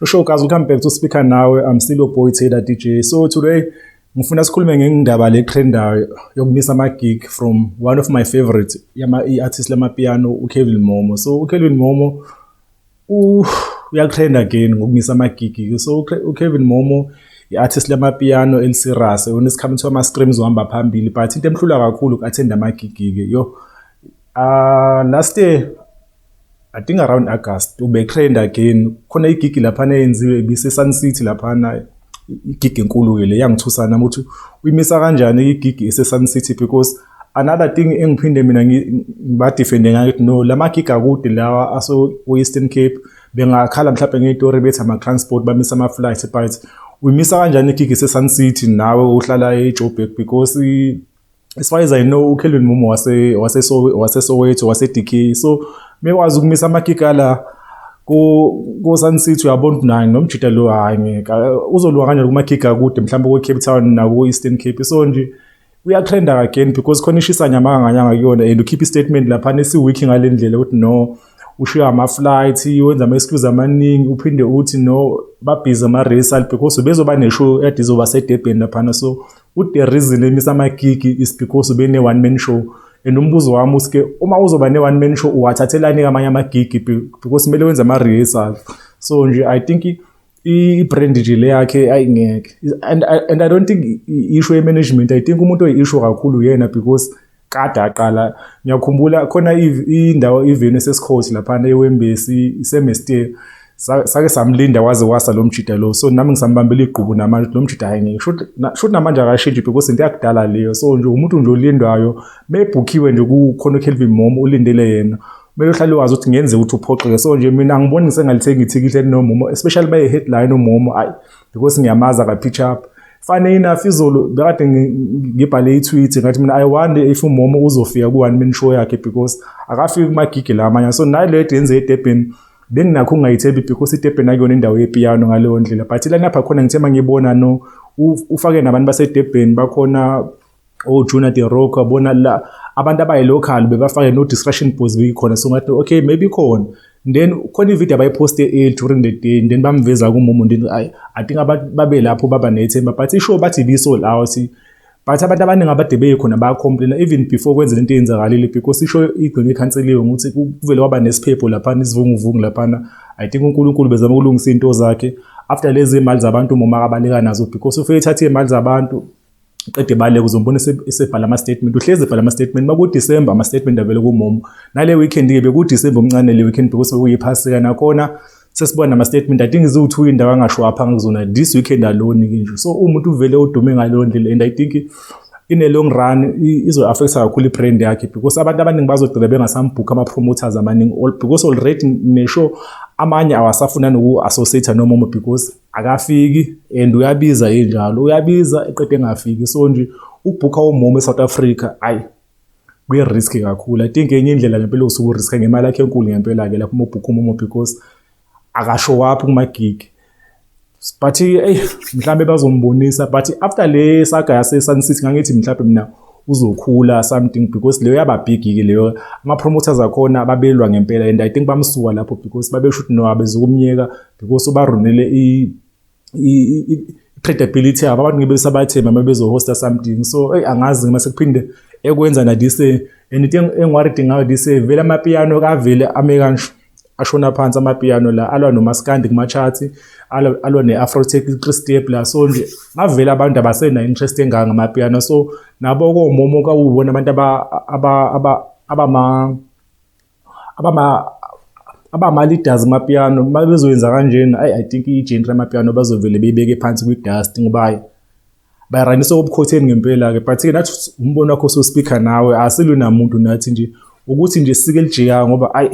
Shosho guys, welcome back to Speaker Nawe. I'm still your boy Taylor DJ. So today ngifuna sikhulume ngendaba le trendayo yokumisa ama gig from one of my favorite yama artist lama piano uKevin Momo. So uKevin Momo uyakutrend again ngokumisa amagigi so ukevin momo i-artist lamapiano elisirase yona isikhathi kuthiwa ama-streams uhamba phambili but into emhlula kakhulu uku-athenda amagigi-ke yo uh, last year i think around august ubetrend again khona igigi laphana eyenziwe ibise-sun city laphana igigi enkulu-ke le yangithusana ukuthi uyimisa kanjani igigi ese-sun city because another thing engiphinde mina ngibadefende ngayo ukuthi no lama gig akude lawa aso Western Cape bengakhala mhlawumbe ngeyitori bethi ama transport bamisa ama flights but uyimisa kanjani igig ese Sun City nawe uhlala eJoburg because as far as I know uKelvin Mumo wase wase so wase Soweto wase DK so mekwazi ukumisa ama gig ala ku ku Sun City uyabona ukuthi naye nomjita lo hayi ngeke uzolwa kanjani kuma gig akude mhlawumbe ku Cape Town naku Eastern Cape so nje uyatrenda again because khona ishisa nyamanga nganyanga kuyona and ukhipha istatement laphana esiweak ngale ndlela ukuthi no ushiya ama-flight wenza ama-excuse amaningi uphinde uthi no babhizi ama-resal because bezoba ne-show ade izoba sedebheni laphana so ude reason emisa amagigi is because bene-one man show and umbuzo wami usike uma uzoba ne-one man show uwathathelani-ke amanye amagigi because kumele wenze ama-rehearsal so nje i think i-brand nje le yakhe ayingeke and, and i don't think i-issue ye-management i think umuntu oyi-issue kakhulu yena because kade aqala ngiyakhumbula khona indawo iveni esesikhothi laphana ewembesi isemestir sake samlinda waze wasa lo mjida lo so nami ngisambambela igqubu namanje lo mjida hayi ngeke shuthi namanje akashintshi because into yakudala leyo so nje umuntu nje olindwayo mebhukhiwe nje kukhona ukelvin mom ulindele yena kumele uhlale wazi ukuthi ngenze ukuthi uphoxeke so nje mina angiboni ngisengalithenga ithikithi elinomumo especially baye headline umumo ayi because ngiyamaza ka pitch up fane enough izolo bekade ngibhale i-tweet ngathi mina i wonder if umomo uzofika ku-one man show yakhe because akafiki kumagigi la amanye so nayo leyo yenze edebheni benginakho ungayithembi because idebheni akuyona indawo yepiyano ngaleyo ndlela but ilanapha khona ngithe uma ngibona no ufake nabantu basedebheni bakhona oh Junior De Rock abona la abantu abayi local bebafake no distraction pose beyikhona so ngathi okay maybe khona then khona ivideo abayiposte e during the day then bamveza kumumu ndini i i think abantu babe lapho baba nethemba but isho bathi bisold out but abantu abaningi abade beyikhona bayacomplaina even before kwenze into eyenzakalile because isho igcine ikhanseliwe ukuthi kuvele waba nesiphepho laphana isivunguvungu laphana i think unkulunkulu bezama ukulungisa into zakhe after lezi mali zabantu moma abaleka nazo because ufike ethathe imali zabantu qede baleka uzombona esebhala ama-statement uhlezi ebhala ama-statement uma kudisemba ama-statement avele kumomo nale weekend-ke bekudisemba omncane le weekend because bekuyiphasika nakhona sesibona nama-statement i think ziwu-two indawo angashwapha ngakuzona this weekend alone-ke nje so umuntu uvele udume ngaleyo ndlela and i think in a long run izo-affecta kakhulu i-brand yakhe because abantu abaningi bazogcina bengasambhukha ama-promoters amaningi because already nesho amanye awasafuna noku-associate nomomo because akafiki and uyabiza enjalo uyabiza eqede engafiki so nje ubhukha umomo eSouth Africa ayi kuyi-risk kakhulu i think enye indlela ngempela usuke uriska ngemali yakhe enkulu ngempela-ke lapho uma ubhukha umomo because akasho waphi kumagigi but eyi mhlawumbe bazombonisa but after le saga yasesun city ngangithi mhlawumbe mina uzokhula something because leyo yaba big-ke leyo ama-promoters akhona babelwa ngempela and i think bamsuka lapho because babesho ukuthi no abezukumyeka because ubarunile i credibility yabo abantu ngibe sabathemba uma bezohosta something so eyi angazi ngima sekuphinde ekwenza na this and into engiwaridi ngayo this vele amapiano kavele ame kansho ashona phansi amapiano la alwa nomaskandi kumachathi alwa ne-afrotech i-christep la so nje bavele abantu abasena-interest enganga ngamapiano so nabo komomo kawubona abantu abama abama abama leaders mapiano mabezoyenza kanjena ay i think i genre mapiano bazovele beyibeke phansi kwi dust ngoba bayaranisa obukhotheni ngempela ke but ke nathi umbono wakho so speaker nawe asilwe namuntu nathi nje ukuthi nje sike lijika ngoba ay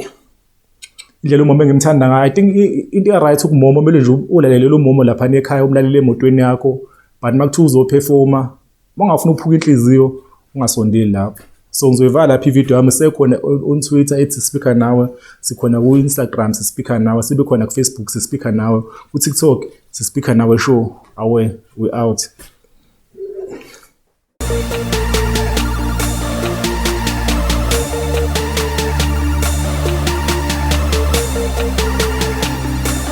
indlela umama engimthanda ngayo i think into right ukumoma kumele nje ulalele lo momo lapha ekhaya umlalele emotweni yakho but makuthiwa uzophefoma Mongafuna ukuphuka inhliziyo ungasondeli lapho. So ngizoyivala lapha ivideo yami sekhona on Twitter ethi speaker nawe, sikhona ku Instagram sispeaker nawe, sibe khona ku Facebook sispeaker nawe, ku TikTok sispeaker nawe show. Away we out.